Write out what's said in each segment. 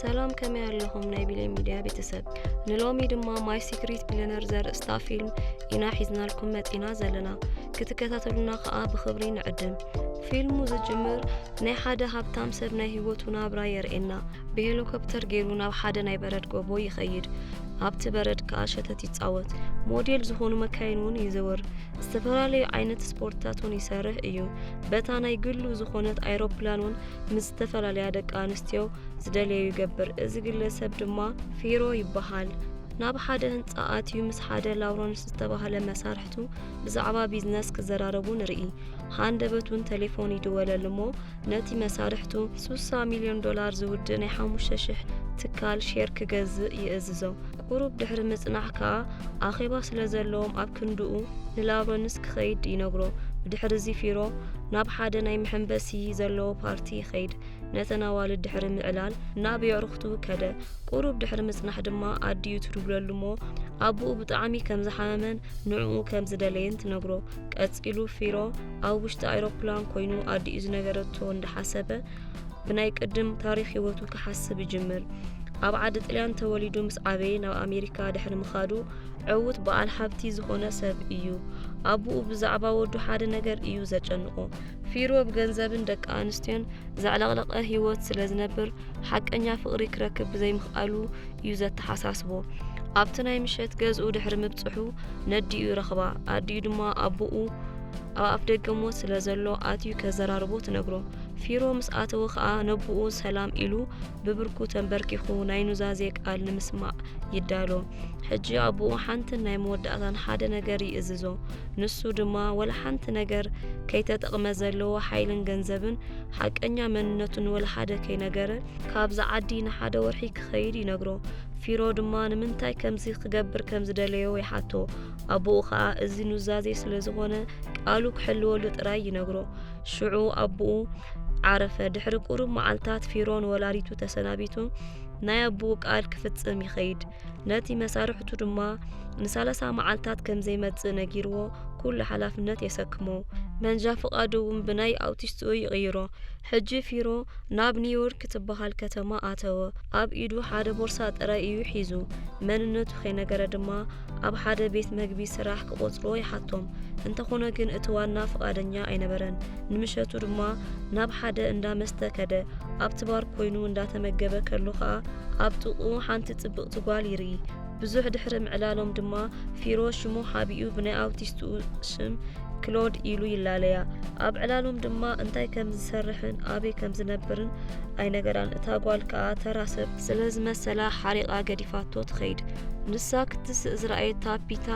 ሰላም ከመይ ኣለኹም ናይ ቢሌን ሚድያ ቤተሰብ ንሎሚ ድማ ማይ ሲክሪት ቢለነር ዘርእስታ ፊልም ኢና ሒዝናልኩም መፂና ዘለና ክትከታተሉና ከዓ ብክብሪ ንዕድም ፊልሙ ዝጅምር ናይ ሓደ ሃብታም ሰብ ናይ ህይወቱ ናብራ የርእየና ብሄሊኮፕተር ገይሩ ናብ ሓደ ናይ በረድ ጎቦ ይኸይድ ኣብቲ በረድ ከዓ ሸተት ይፃወት ሞዴል ዝኾኑ መካይን እውን ይዘወር ዝተፈላለዩ ዓይነት ስፖርትታት እውን ይሰርሕ እዩ በታ ናይ ግሉ ዝኾነት ኣይሮፕላን እውን ምስ ዝተፈላለያ ደቂ ኣንስትዮ ዝደልዮ ይገብር። እዚ ግለሰብ ድማ ፊሮ ይበሃል። ናብ ሓደ ህንፃ ኣትዩ ምስ ሓደ ላውረንስ ዝተባህለ መሳርሕቱ ብዛዕባ ቢዝነስ ክዘራረቡ ንርኢ። ሃንደበቱን ቴሌፎን ይድወለሉ እሞ ነቲ መሳርሕቱ 60 ሚልዮን ዶላር ዝውድእ ናይ ሓሙሽተ ሽሕ ትካል ሼር ክገዝእ ይእዝዞ። ቁሩብ ድሕሪ ምጽናሕ ከኣ ኣኼባ ስለ ዘለዎም ኣብ ክንድኡ ንላውረንስ ክኸይድ ይነግሮ። ብድሕርዚ ፊሮ ናብ ሓደ ናይ መሐንበሲ ዘለዎ ፓርቲ ይኸይድ። ነተን ኣዋልድ ድሕሪ ምዕላል ናብ የዕሩኽቱ ከደ። ቁሩብ ድሕሪ ምጽናሕ ድማ ኣዲኡ ትድውለሉ'ሞ ኣቡኡ ብጣዕሚ ከም ዝሓመመን ንዕኡ ከም ዝደለየን ትነግሮ። ቀጺሉ ፊሮ ኣብ ውሽጢ ኣይሮፕላን ኮይኑ ኣዲኡ ዝነገረቶ እንዳሓሰበ ብናይ ቅድም ታሪኽ ህይወቱ ክሓስብ ይጅምር። ኣብ ዓዲ ጥልያን ተወሊዱ ምስ ዓበየ ናብ ኣሜሪካ ድሕሪ ምኻዱ ዕውት በዓል ሃብቲ ዝኾነ ሰብ እዩ። ኣቡኡ ብዛዕባ ወዱ ሓደ ነገር እዩ ዘጨንቆ። ፊሮ ብገንዘብን ደቂ ኣንስትዮን ዘዕለቕለቐ ህይወት ስለ ዝነብር ሓቀኛ ፍቕሪ ክረክብ ብዘይምኽኣሉ እዩ ዘተሓሳስቦ። ኣብቲ ናይ ምሸት ገዝኡ ድሕሪ ምብጽሑ ነዲኡ ይረኽባ። ኣዲኡ ድማ ኣቡኡ ኣብ ኣፍ ደገ ሞት ስለ ዘሎ ኣትዩ ከዘራርቦ ትነግሮ። ፊሮ ምስ ኣተወ ከኣ ነቦኡ ሰላም ኢሉ ብብርኩ ተንበርኪኹ ናይ ኑዛዜ ቃል ንምስማዕ ይዳሎ ሕጂ ኣቦኡ ሓንትን ናይ መወዳእታን ሓደ ነገር ይእዝዞ ንሱ ድማ ወላ ሓንቲ ነገር ከይተጠቕመ ዘለዎ ሓይልን ገንዘብን ሓቀኛ መንነቱን ወላ ሓደ ከይነገረ ካብዚ ዓዲ ንሓደ ወርሒ ክኸይድ ይነግሮ ፊሮ ድማ ንምንታይ ከምዚ ክገብር ከም ዝደለዮ ይሓቶ ኣቦኡ ከኣ እዚ ኑዛዜ ስለ ዝኾነ ቃሉ ክሕልወሉ ጥራይ ይነግሮ ሽዑ ኣቦኡ ዓረፈ። ድሕሪ ቁሩብ መዓልታት ፊሮን ወላዲቱ ተሰናቢቱ ናይ ኣቦኡ ቃል ክፍጽም ይኸይድ። ነቲ መሳርሕቱ ድማ ንሳለሳ መዓልታት ከም ዘይመጽእ ነጊርዎ ኩሉ ሓላፍነት የሰክሞ። መንጃ ፍቓዱ እውን ብናይ ኣውቲስትኡ ይቕይሮ። ሕጂ ፊሮ ናብ ኒውዮርክ ትበሃል ከተማ ኣተወ። ኣብ ኢዱ ሓደ ቦርሳ ጥራይ እዩ ሒዙ። መንነቱ ከይነገረ ድማ ኣብ ሓደ ቤት መግቢ ስራሕ ክቖጽርዎ ይሓቶም። እንተኾነ ግን እቲ ዋና ፍቓደኛ ኣይነበረን። ንምሸቱ ድማ ናብ ሓደ እንዳ መስተ ከደ። ኣብቲ ባር ኮይኑ እንዳተመገበ ከሎ ከኣ ኣብ ጥቕኡ ሓንቲ ጽብቕቲ ጓል ይርኢ። ብዙሕ ድሕሪ ምዕላሎም ድማ ፊሮ ሽሙ ሓቢኡ ብናይ ኣውቲስትኡ ሽም ክሎድ ኢሉ ይላለያ። ኣብ ዕላሎም ድማ እንታይ ከም ዝሰርሕን ኣበይ ከም ዝነብርን ኣይነገራን። እታ ጓል ከኣ ተራ ሰብ ስለ ዝመሰላ ሓሪቓ ገዲፋቶ ትኸይድ። ንሳ ክትስእ ዝረኣየታ ፒታ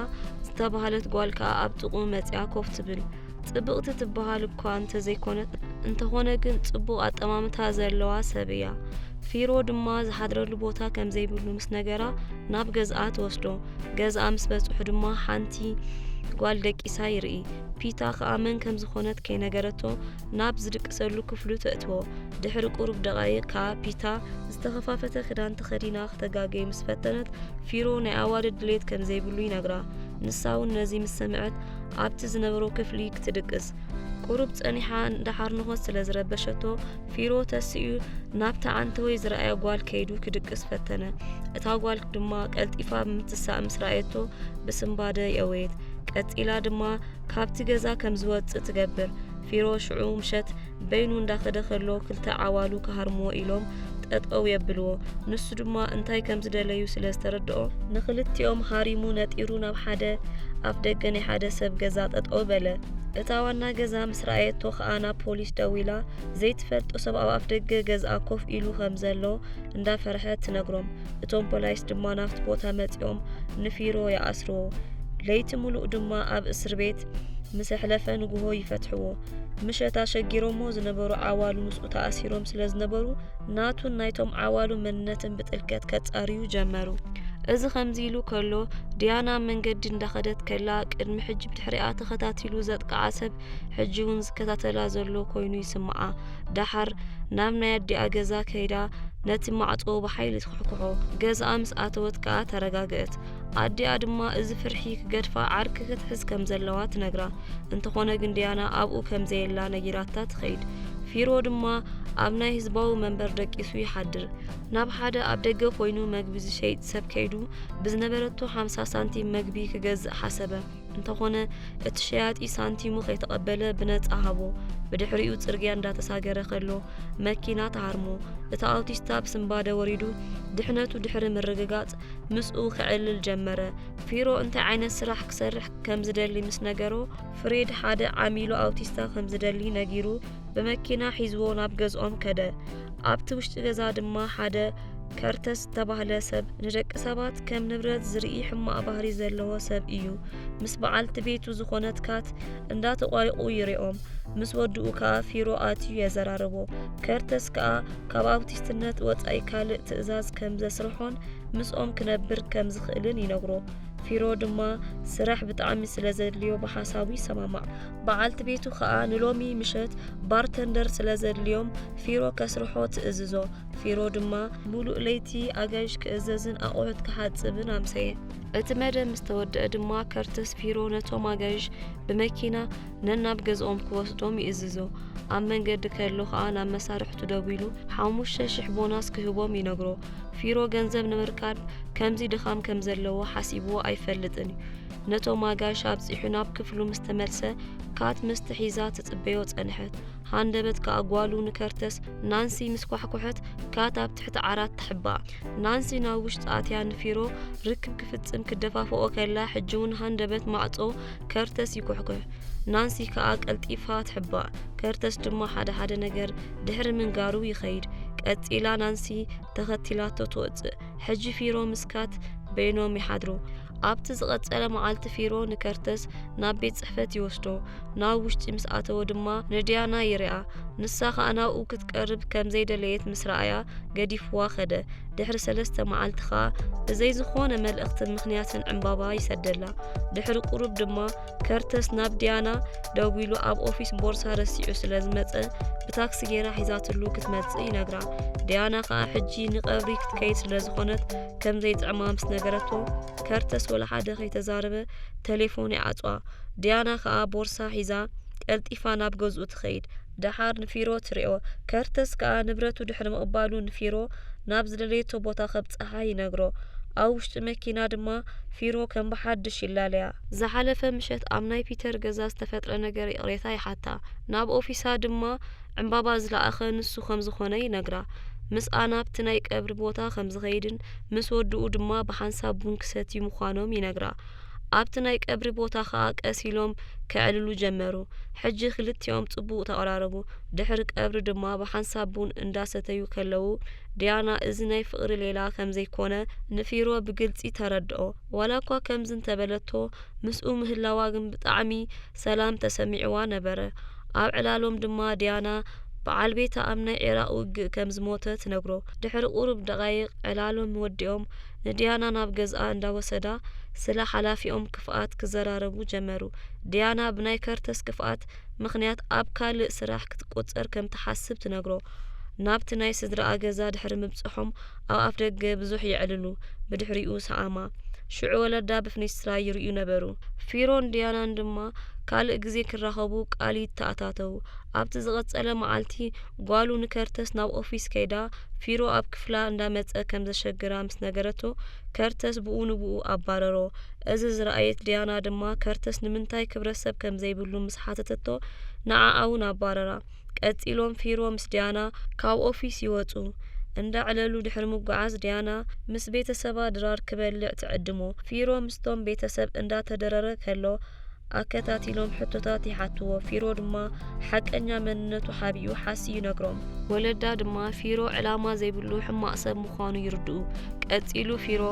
ዝተባህለት ጓል ከኣ ኣብ ጥቕኡ መጺኣ ኮፍ ትብል ጽብቕቲ ትበሃል እኳ እንተዘይኮነት እንተኾነ ግን ጽቡቕ ኣጠማምታ ዘለዋ ሰብ እያ ፊሮ ድማ ዝሓድረሉ ቦታ ከም ዘይብሉ ምስ ነገራ ናብ ገዝኣ ትወስዶ ገዝኣ ምስ በጽሑ ድማ ሓንቲ ጓል ደቂሳ ይርኢ ፒታ ከኣ መን ከም ዝኾነት ከይነገረቶ ናብ ዝድቅሰሉ ክፍሉ ተእትዎ። ድሕሪ ቁሩብ ደቓይቕ ከኣ ፒታ ዝተኸፋፈተ ክዳን ተኸዲና ክተጋገይ ምስ ፈተነት ፊሮ ናይ ኣዋልድ ድሌት ከም ዘይብሉ ይነግራ። ንሳ እውን ነዚ ምስ ሰምዐት ኣብቲ ዝነበሮ ክፍሊ ክትድቅስ ቁሩብ ጸኒሓ እንዳሓርንኾት ስለ ዝረበሸቶ ፊሮ ተስኡ ናብታ ዓንተወይ ዝረኣየ ጓል ከይዱ ክድቅስ ፈተነ። እታ ጓል ድማ ቀልጢፋ ብምትሳእ ምስ ረኣየቶ ብስምባደ የወየት። ቀጺላ ድማ ካብቲ ገዛ ከም ዝወጽእ ትገብር ፊሮ ሽዑ ምሸት በይኑ እንዳኸደ ከሎ ክልተ ዓዋሉ ክሃርምዎ ኢሎም ጠጠው የብልዎ ንሱ ድማ እንታይ ከም ዝደለዩ ስለ ዝተረድኦ ንክልቲኦም ሃሪሙ ነጢሩ ናብ ሓደ ኣፍ ደገ ናይ ሓደ ሰብ ገዛ ጠጠው በለ እታ ዋና ገዛ ምስ ረኣየቶ ከኣ ናብ ፖሊስ ደዊላ ዘይትፈልጦ ሰብ ኣብ ኣፍ ደገ ገዝኣ ኮፍ ኢሉ ከም ዘሎ እንዳፈርሐት ትነግሮም እቶም ፖላይስ ድማ ናብቲ ቦታ መጺኦም ንፊሮ ይኣስርዎ ለይቲ ምሉእ ድማ ኣብ እስር ቤት ምስ ኣሕለፈ ንግሆ ይፈትሕዎ ምሸት ኣሸጊሮሞ ዝነበሩ ዓዋሉ ምስኡ ተኣሲሮም ስለ ዝነበሩ ናቱን ናይቶም ዓዋሉ መንነትን ብጥልቀት ከጻርዩ ጀመሩ እዚ ከምዚ ኢሉ ከሎ ድያና መንገዲ እንዳኸደት ከላ ቅድሚ ሕጂ ብድሕሪኣ ተኸታቲሉ ዘጥቅዓ ሰብ ሕጂ እውን ዝከታተላ ዘሎ ኮይኑ ይስምዓ ደሓር ናብ ናይ ኣዲኣ ገዛ ከይዳ ነቲ ማዕጾ ብሓይሊ ትኩሕኩሖ ገዛኣ ምስ ኣተወት ከኣ ተረጋግአት ኣዲኣ ድማ እዚ ፍርሒ ክገድፋ ዓርኪ ክትሕዝ ከም ዘለዋ ትነግራ እንተኾነ ግን ድያና ኣብኡ ከም ዘየላ ነጊራታ ትኸይድ ፊሮ ድማ ኣብ ናይ ህዝባዊ መንበር ደቂሱ ይሓድር ናብ ሓደ ኣብ ደገ ኮይኑ መግቢ ዝሸይጥ ሰብ ከይዱ ብዝነበረቶ ሓምሳ ሳንቲም መግቢ ክገዝእ ሓሰበ እንተኾነ እቲ ሸያጢ ሳንቲሙ ከይተቐበለ ብነፃ ሃቦ ብድሕሪኡ ጽርግያ እንዳተሳገረ ከሎ መኪና ተሃርሞ እቲ ኣውቲስታ ብስንባደ ወሪዱ ድሕነቱ ድሕሪ ምርግጋጽ ምስኡ ክዕልል ጀመረ ፊሮ እንታይ ዓይነት ስራሕ ክሰርሕ ከም ዝደሊ ምስ ነገሮ ፍሬድ ሓደ ዓሚሉ ኣውቲስታ ከም ዝደሊ ነጊሩ ብመኪና ሒዝዎ ናብ ገዝኦም ከደ። ኣብቲ ውሽጢ ገዛ ድማ ሓደ ከርተስ ዝተባህለ ሰብ ንደቂ ሰባት ከም ንብረት ዝርኢ ሕማቕ ባህሪ ዘለዎ ሰብ እዩ። ምስ በዓልቲ ቤቱ ዝኾነት ካት እንዳተቋሪቑ ይሪኦም። ምስ ወድኡ ከዓ ፊሮ ኣትዩ የዘራርቦ። ከርተስ ከዓ ካብ ኣውቲስትነት ወፃኢ ካልእ ትእዛዝ ከም ዘስርሖን ምስኦም ክነብር ከም ዝኽእልን ይነግሮ። ፊሮ ድማ ስራሕ ብጣዕሚ ስለ ዘድልዮ ብሓሳቡ ይሰማማዕ። በዓልቲ ቤቱ ኸኣ ንሎሚ ምሸት ባርተንደር ስለ ዘድልዮም ፊሮ ከስርሖ ትእዝዞ። ፊሮ ድማ ምሉእ ለይቲ ኣጋይሽ ክእዘዝን ኣቑሑት ክሓጽብን ኣምሰየ። እቲ መደብ ምስ ተወድአ ድማ ከርተስ ፊሮ ነቶም ኣጋይሽ ብመኪና ነናብ ገዝኦም ክወስዶም ይእዝዞ። ኣብ መንገዲ ከሎ ኸኣ ናብ መሳርሕቱ ደዊሉ ሓሙሽተ ሽሕ ቦናስ ክህቦም ይነግሮ። ፊሮ ገንዘብ ንምርካብ ከምዚ ድኻም ከም ዘለዎ ሓሲብዎ ኣይፈልጥን እዩ። ነቶም ኣጋይሽ ኣብጺሑ ናብ ክፍሉ ምስ ተመልሰ ካት ምስቲ ሒዛ ትጽበዮ ጸንሐት። ሃንደበት ከኣ ጓሉ ንከርተስ ናንሲ ምስ ኳሕኩሐት ካት ኣብ ትሕቲ ዓራት ተሕባ። ናንሲ ናብ ውሽጢ ኣትያ ንፊሮ ርክብ ክፍጽም ክደፋፍኦ ከላ ሕጂ እውን ሃንደበት ማዕጾ ከርተስ ይኩሕኩሕ። ናንሲ ከኣ ቀልጢፋ ትሕባ። ከርተስ ድማ ሓደ ሓደ ነገር ድሕሪ ምንጋሩ ይኸይድ። ቀጺላ ናንሲ ተኸቲላቶ ትወጽእ። ሕጂ ፊሮ ምስ ካት በይኖም ይሓድሩ። ኣብቲ ዝቐጸለ መዓልቲ ፊሮ ንከርተስ ናብ ቤት ጽሕፈት ይወስዶ። ናብ ውሽጢ ምስ ኣተወ ድማ ንድያና ይርኣ። ንሳ ኸኣ ናብኡ ክትቀርብ ከም ዘይደለየት ምስ ረኣያ ገዲፍዋ ኸደ። ድሕሪ ሰለስተ መዓልቲ ኸኣ ብዘይ ዝኾነ መልእኽትን ምኽንያትን ዕምባባ ይሰደላ። ድሕሪ ቁሩብ ድማ ከርተስ ናብ ዲያና ደዊሉ ኣብ ኦፊስ ቦርሳ ረሲዑ ስለ ዝመጸ ብታክሲ ጌራ ሒዛትሉ ክትመጽእ ይነግራ። ዲያና ከኣ ሕጂ ንቀብሪ ክትከይድ ስለ ዝኾነት ከም ዘይጥዕማ ምስ ነገረቶ ከርተስ ወላ ሓደ ከይተዛረበ ተሌፎን ይዓጽዋ። ዲያና ከኣ ቦርሳ ሒዛ ቀልጢፋ ናብ ገዝኡ ትኸይድ። ደሓር ንፊሮ ትሪኦ። ከርተስ ከኣ ንብረቱ ድሕሪ ምቕባሉ ንፊሮ ናብ ዝደለየቶ ቦታ ከብጽሓ ይነግሮ። ኣብ ውሽጢ መኪና ድማ ፊሮ ከም ብሓድሽ ይላለያ። ዝሓለፈ ምሸት ኣብ ናይ ፒተር ገዛ ዝተፈጥረ ነገር ይቕሬታ ይሓታ። ናብ ኦፊሳ ድማ ዕምባባ ዝለኣኸ ንሱ ከም ዝኾነ ይነግራ። ምስኣ ናብቲ ናይ ቀብሪ ቦታ ከም ዝኸይድን ምስ ወድኡ ድማ ብሓንሳብ ቡን ክሰትዩ ምዃኖም ይነግራ። ኣብቲ ናይ ቀብሪ ቦታ ከኣ ቀስ ኢሎም ከዕልሉ ጀመሩ። ሕጂ ክልቲኦም ጽቡቕ ተቐራረቡ። ድሕሪ ቀብሪ ድማ ብሓንሳብ ቡን እንዳ ሰተዩ ከለዉ ዲያና እዚ ናይ ፍቕሪ ሌላ ከም ዘይኮነ ንፊሮ ብግልጺ ተረድኦ። ዋላኳ ከምዚ እንተ በለቶ ምስኡ ምህላዋ ግን ብጣዕሚ ሰላም ተሰሚዕዋ ነበረ። ኣብ ዕላሎም ድማ ዲያና ብዓል ቤታ ኣብ ናይ ዒራቕ ውግእ ከም ዝሞተ ትነግሮ። ድሕሪ ቁሩብ ደቓይቕ ዕላሎም ወዲኦም ንድያና ናብ ገዝኣ እንዳወሰዳ ስለ ሓላፊኦም ክፍኣት ክዘራረቡ ጀመሩ። ድያና ብናይ ከርተስ ክፍኣት ምኽንያት ኣብ ካልእ ስራሕ ክትቆጸር ከም ትሓስብ ትነግሮ። ናብቲ ናይ ስድራኣ ገዛ ድሕሪ ምብጽሖም ኣብ ኣፍደገ ብዙሕ የዕልሉ፣ ብድሕሪኡ ሰኣማ። ሽዑ ወለዳ ብፍኒስትራ ይርእዩ ነበሩ። ፊሮን ድያናን ድማ ካልእ ግዜ ክራኸቡ ቃል ይተኣታተዉ። ኣብቲ ዝቐጸለ መዓልቲ ጓሉ ንከርተስ ናብ ኦፊስ ከይዳ ፊሮ ኣብ ክፍላ እንዳመጸ ከም ዘሸግራ ምስ ነገረቶ ከርተስ ብኡ ንብኡ ኣባረሮ። እዚ ዝረኣየት ዲያና ድማ ከርተስ ንምንታይ ክብረሰብ ከም ዘይብሉ ምስ ሓተተቶ ንዓኣ'ውን ኣባረራ። ቀጺሎም ፊሮ ምስ ዲያና ካብ ኦፊስ ይወጹ። እንዳ ዕለሉ ድሕሪ ምጉዓዝ ዲያና ምስ ቤተሰባ ድራር ክበልዕ ትዕድሞ። ፊሮ ምስቶም ቤተሰብ እንዳ ተደረረ ከሎ፣ ኣከታቲሎም ሕቶታት ይሓትዎ። ፊሮ ድማ ሓቀኛ መንነቱ ሓቢኡ ሓሲ ይነግሮም። ወለዳ ድማ ፊሮ ዕላማ ዘይብሉ ሕማቕ ሰብ ምዃኑ ይርድኡ። ቀጺሉ ፊሮ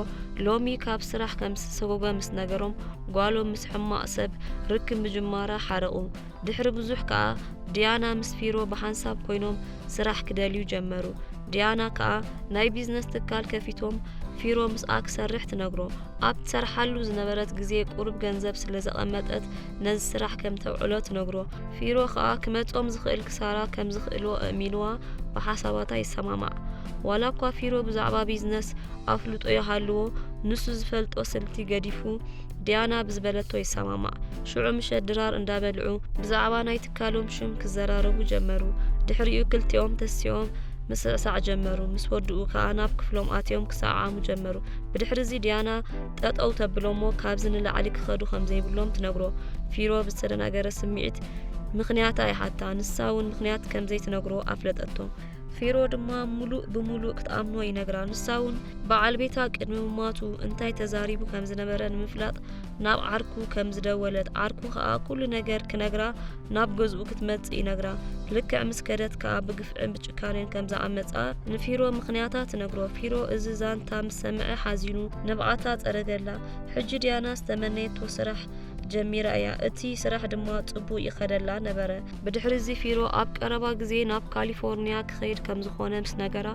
ሎሚ ካብ ስራሕ ከም ዝተሰጎገ ምስ ነገሮም ጓሎም ምስ ሕማቕ ሰብ ርክብ ምጅማራ ሓረቑ። ድሕሪ ብዙሕ ከኣ ዲያና ምስ ፊሮ ብሓንሳብ ኮይኖም ስራሕ ክደልዩ ጀመሩ። ዲያና ከኣ ናይ ቢዝነስ ትካል ከፊቶም ፊሮ ምስኣ ክሰርሕ ትነግሮ። ኣብ ትሰርሓሉ ዝነበረት ግዜ ቁሩብ ገንዘብ ስለ ዘቐመጠት ነዚ ስራሕ ከም ተውዕሎ ትነግሮ። ፊሮ ከኣ ክመጾም ዝኽእል ክሳራ ከም ዝኽእልዎ ኣእሚንዋ ብሓሳባታ ይሰማማዕ። ዋላ እኳ ፊሮ ብዛዕባ ቢዝነስ ኣፍልጦ ይሃልዎ፣ ንሱ ዝፈልጦ ስልቲ ገዲፉ ዲያና ብዝበለቶ ይሰማማዕ ሽዑ ምሸት ድራር እንዳበልዑ ብዛዕባ ናይ ትካሎም ሽም ክዘራረቡ ጀመሩ ድሕሪኡ ክልቲኦም ተሲኦም ምስዕሳዕ ጀመሩ ምስ ወድኡ ከዓ ናብ ክፍሎም ኣትዮም ክሰዓዓሙ ጀመሩ ብድሕሪ እዚ ዲያና ጠጠው ተብሎሞ ካብዚ ንላዕሊ ክኸዱ ከም ዘይብሎም ትነግሮ ፊሮ ብዝተደናገረ ስምዒት ምክንያታ ይሓታ ንሳ እውን ምክንያት ከም ዘይትነግሮ ኣፍለጠቶ ፊሮ ድማ ሙሉእ ብሙሉእ ክትኣምኖ ይነግራ ንሳ እውን በዓል ቤታ ቅድሚ ምሟቱ እንታይ ተዛሪቡ ከም ዝነበረ ንምፍላጥ ናብ ዓርኩ ከም ዝደወለት ዓርኩ ከዓ ኩሉ ነገር ክነግራ ናብ ገዝኡ ክትመፅእ ይነግራ ልክዕ ምስ ከደት ከዓ ብግፍዕን ብጭካኔን ከም ዝኣመፃ ንፊሮ ምክንያታ ትነግሮ ፊሮ እዚ ዛንታ ምስ ሰምዐ ሓዚኑ ንብዓታ ፀረገላ ሕጂ ድያና ዝተመነየቶ ስራሕ ጀሚራ እያ እቲ ስራሕ ድማ ፅቡቅ ይኸደላ ነበረ ብድሕሪ እዚ ፊሮ ኣብ ቀረባ ግዜ ናብ ካሊፎርንያ ክኸይድ ከም ዝኾነ ምስ ነገራ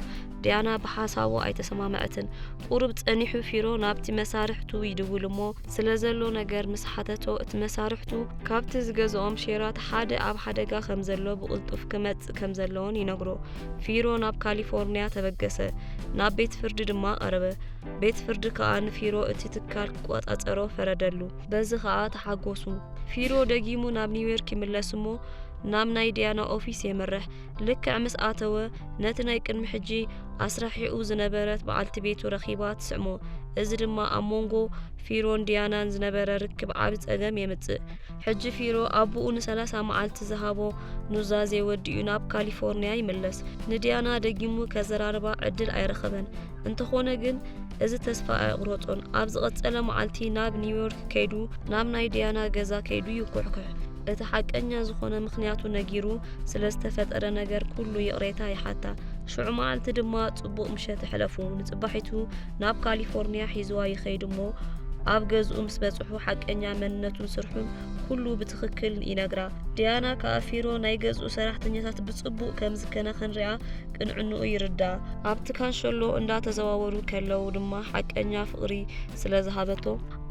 ዲያና ብሓሳቡ ኣይተሰማምዐትን። ቁሩብ ጸኒሑ ፊሮ ናብቲ መሳርሕቱ ይድውል እሞ ስለ ዘሎ ነገር ምስ ሓተቶ እቲ መሳርሕቱ ካብቲ ዝገዝኦም ሼራት ሓደ ኣብ ሓደጋ ከም ዘሎ ብቕልጡፍ ክመጽእ ከም ዘለዎን ይነግሮ። ፊሮ ናብ ካሊፎርንያ ተበገሰ። ናብ ቤት ፍርዲ ድማ ቀረበ። ቤት ፍርዲ ከኣ ንፊሮ እቲ ትካል ክቆጻጸሮ ፈረደሉ። በዚ ኸኣ ተሓጐሱ። ፊሮ ደጊሙ ናብ ኒውዮርክ ይምለስ እሞ ናብ ናይ ዲያና ኦፊስ የምርሕ። ልክዕ ምስ ኣተወ ነቲ ናይ ቅድሚ ሕጂ ኣስራሒኡ ዝነበረት በዓልቲ ቤቱ ረኺባ ትስዕሞ። እዚ ድማ ኣብ መንጎ ፊሮን ዲያናን ዝነበረ ርክብ ዓቢ ጸገም የምጽእ። ሕጂ ፊሮ ኣቦኡ ንሰላሳ መዓልቲ ዝሃቦ ኑዛዜ ወዲኡ ናብ ካሊፎርንያ ይምለስ። ንዲያና ደጊሙ ከዘራርባ ዕድል ኣይረኸበን። እንተኾነ ግን እዚ ተስፋ ኣይቕረጾን ኣብ ዝቐጸለ መዓልቲ ናብ ኒውዮርክ ከይዱ ናብ ናይ ድያና ገዛ ከይዱ ይኩሕኩሕ እቲ ሓቀኛ ዝኾነ ምክንያቱ ነጊሩ ስለ ዝተፈጠረ ነገር ኩሉ ይቕሬታ ይሓታ ሽዑ መዓልቲ ድማ ጽቡቕ ምሸት ሕለፉ ንጽባሒቱ ናብ ካሊፎርኒያ ሒዝዋ ይኸይድ እሞ ኣብ ገዝኡ ምስ በጽሑ ሓቀኛ መንነቱን ስርሑን ኩሉ ብትኽክል ይነግራ ድያና ከኣ ፊሮ ናይ ገዝኡ ሰራሕተኛታት ብጽቡቕ ከም ዝከናኸን ሪኣ ቅንዕንኡ ይርዳእ። ኣብቲ ካንሸሎ እንዳተዘዋወሩ ከለው ድማ ሓቀኛ ፍቕሪ ስለ ዝሃበቶ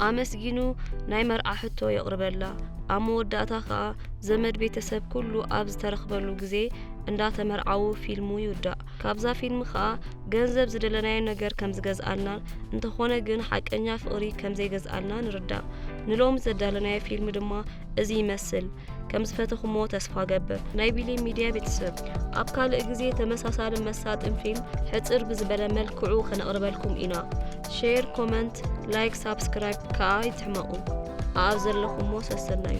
ኣመስጊኑ ናይ መርዓ ሕቶ የቕርበላ። ኣብ መወዳእታ ከኣ ዘመድ ቤተሰብ ኩሉ ኣብ ዝተረኽበሉ ግዜ እንዳተመርዓዉ ፊልሙ ይውዳእ። ካብዛ ፊልም ከኣ ገንዘብ ዝደለናዮ ነገር ከም ዝገዝኣልናን እንተኾነ ግን ሓቀኛ ፍቕሪ ከም ዘይገዝኣልና ንርዳእ። ንሎሚ ዘዳለናዮ ፊልም ድማ እዚ ይመስል ከም ዝፈተኹሞ ተስፋ ገብር ናይ ቢሊ ሚድያ ቤተሰብ ኣብ ካልእ ግዜ ተመሳሳሊ መሳጥን ፊልም ሕፅር ብዝበለ መልክዑ ከነቕርበልኩም ኢና ሼር ኮመንት ላይክ ሳብስክራይብ ከዓ ይትሕመቑ ኣኣብ ዘለኹሞ ሰሰናዩ